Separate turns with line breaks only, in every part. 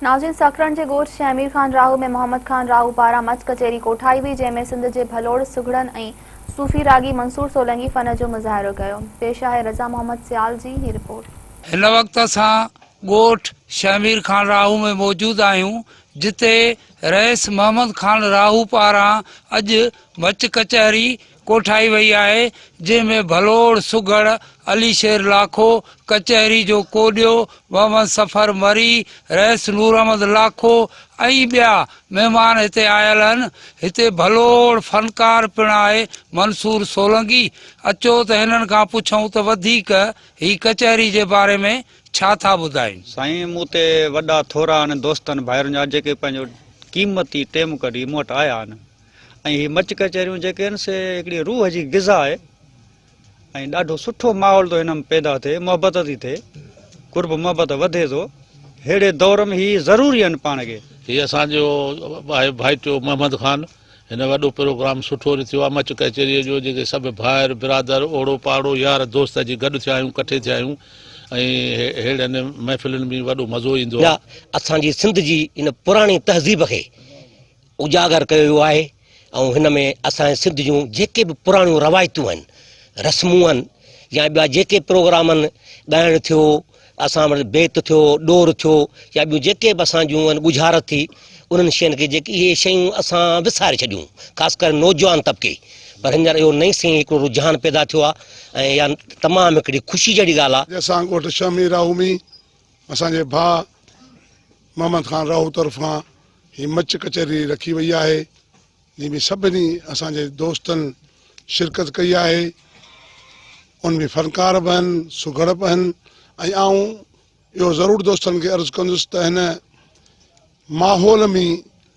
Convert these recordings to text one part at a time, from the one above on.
ناظرين سکرن جي ڳوٺ شيخ امير خان راهو ۾ محمد خان راهو پاران مچ ڪچهري ڪوٺائي وئي جنهن ۾ سنڌ جي ڀلوڙ سگهڙن ۽ صوفي راڳي منصور سولنگي فن جو مظاهرو ڪيو پيش آهي رضا محمد سيال جي هي رپورٽ. هن وقت اسان
ڳوٺ شيخ امير خان راهو ۾ موجود آهيون جتي رئيس محمد خان راهو پاران اڄ مچ ڪچهري ڪوٺائي وئي آهي، جنهن ۾ ڀلوڙ سگهڙ، علي شير لاکو، ڪچهري جو ڪوڏيو، محمد سفر مري، رئيس نوراحمد لاکو ۽ ٻيا مهمان هتي آيل هن. هتي ڀلوڙ فنڪار پڻ آهي منصور سولنگي. اچو ته هنن کان پڇون ته وڌيڪ هي ڪچهري جي باري ۾ ڇا ٿا ٻڌائين. سائين مون تي
وڏا ٿورا آهن دوستن ڀائرن جا جيڪي پنهنجو قيمتي ٽيم ڪڍي مون وٽ آيا آهن ۽ هي مچ ڪچهريون جيڪي آهن سي هڪڙي روح جي غذا آهي ۽ ڏاڍو سٺو ماحول ٿو هن ۾ پيدا ٿئي محبت ٿي ٿئي قرب محبت وڌي ٿو ههڙي دور ۾ هي ضروري آهن پاڻ کي هي اسان جو
آهي ڀائيٽيو محمد خان هن وڏو پروگرام سٺو رٿيو آهي مچ ڪچهري جو جيڪي سڀ ڀائر برادر اوڙو پاڙو يار دوست اچي گڏ ٿيا آهيون ڪٺي ٿيا آهيون ۽ ههڙن محفلن ۾ وڏو مزو ايندو آهي اسان جي سنڌ جي
ان پراڻي تهذيب کي اجاگر ڪيو ويو آهي ۽ هن ۾ اسان جي سنڌ جون جيڪي به پراڻيون روايتون آهن رسمون آهن يا ٻيا جيڪي پروگرام آهن ڳائڻ ٿيو اسان وٽ بيت ٿيو ڏور ٿيو يا ٻيون جيڪي به اسان جون آهن ڳجهارت ٿي انهن شين کي جيڪي اهي شيون اسان وساري ڇڏيون خاص ڪري نوجوان طبقي پر هينئر اهو نئين سين هڪڙو رجحان پيدا ٿيو آهي ۽ اها تمام هڪڙي خوشي جهڙي ڳالهه آهي اسان ڳوٺ شهمي
راهومي اسان جي ڀاء محمد خان راهو طرفان هي مچ ڪچهري رکي وئي آهي جنهن ۾ سڀني اسان جي دوستن شرڪت ڪئي آهي ان ۾ فنڪار به آهن سگهڙ به آهن ۽ آئون اهو ضرور دوستن کي عرض ڪندس ته هن ماحول ۾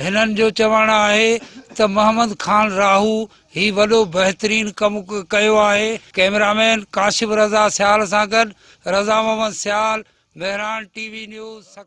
هنن جو چوڻ آهي ته محمد خان راهو هي وڏو بهترين ڪم ڪيو آهي. ڪئميرامين ڪاشف رضا سيال سان گڏ Raza Muhammad Sial, Mehran TV news, Sukkur.